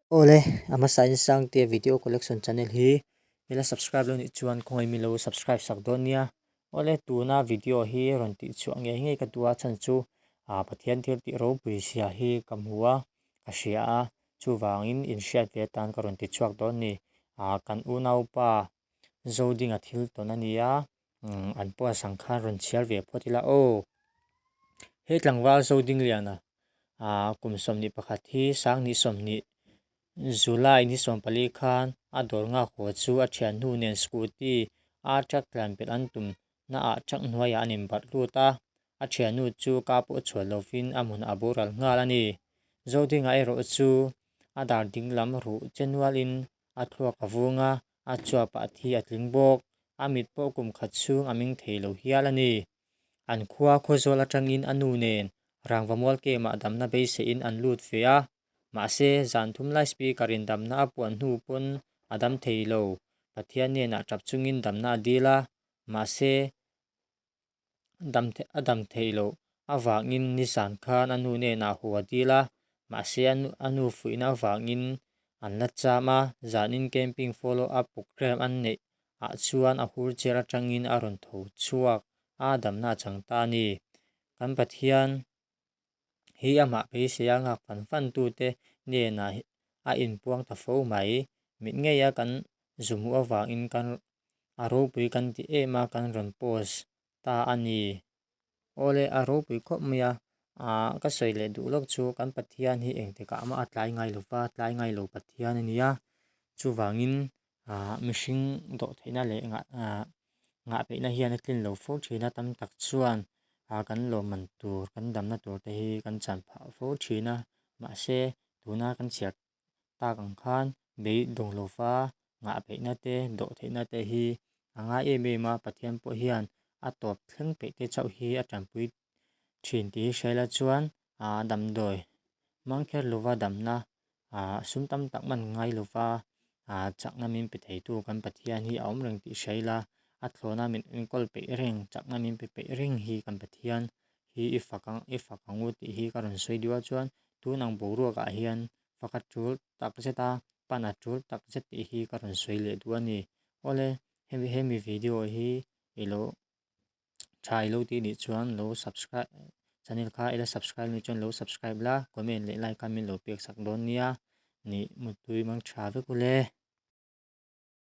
Awle, a hmasa in Sangtea Video Collection channel hi i la subscribe lo nih chuan khawngaih min lo subscribe sak dawn nia. Awle, tuna video hi rawn tih chhuah ngei ngei ka duh a, chhan chu Pathian thil tih ropui zia hi ka hmu a, ka hria a, chuvangin inhriat ve atan ka rawn ti chhuak dawn a ni. Kan unaupa Zoding-a thil tawn a ni a, an puasang khan rawn chhiar ve phawt ila aw he tlangval zo ding lian a aa kum sawmhnih pakhat hi sanghnih sawmhnih july ni sawm pali khan a dawr nghak haw chu a thian hnu nen scooty a truck tlan belh an tum na ah truck hnuai ah an in barh lut a a thian hnu chu ka pawh chhuah lo in a hmun a boral nghal a ni zo ding ah erawh chu a dar ding lam rauh che nual in a thluak a vung a. a chhuapa a thi a tling bawk. A mit pawh kum khat chhung a ming thei lo hial a ni. An khua khaw zawl atangin a nu nen rangva mual kema a damna beiseiin an lut ve a. Mahse, zan thum lai Speaker in damna a puan hnu pawn a dam thei lo. Pathian nen ah tap chungin damna a dil a. Mahse, a dam theih loh avangin nizan khan a nu nenah a hua dil a, mahse a nu fuihna avangin an la cham a, zanin camping follow up program an neih ah chuan a hur chel atangin a rawn tho chhuak a, damna a chang ta a ni. Kan Pathian hi a mahphei sia nghak fan fan tu te nena a in puang ta fo mai, mit ngei a kan zumuh avang in kan a ropui kan ti em a kan rawn post ta a ni. Awle a ropui khawp mai a, ahh ka sawi leh duh lawk chu kan Pathian hi engtikah mah a tlai ngai lova tlai ngai lo Pathian a nia chuvangin aah mihring dawh theihna leh ngah aah ngah peihna hian a tlin lo fo thin a tam tak chuan a kan lawmman tur kan damna tur te hi kan chan phah fo thin a mahse tuna kan chhiar tak ang khan bei dawnglofa ngah peihna te dawh theihna te hi a ngai em em a pathian pawh hian a tawp thleng peih te chauh hi a tanpui-- thin tih hi hrial a chuan a damdawi hmang kher lova damna ah sum tam tak man ngai lova ah chakna min pe thei tu kan Pathian hi a awm reng tih hrial a a thlawna min min kawl peih reng chakna min pe peih reng hi kan Pathian hi i fak ang i fak ang u tih hi ka rawn sawi diu a chuan tunang boruak ah hian fakhat tul tak zet a pana tul tak zet tih hi ka rawn sawi leh duh a ni awle hemi video hi ilo. tha ilo ti nih chuan lo subscribe channel kha ila subscribe nih chuan lo subscribe la comment leh like kha min lo pek sak dawn nia nih mutui mangtha vek u le.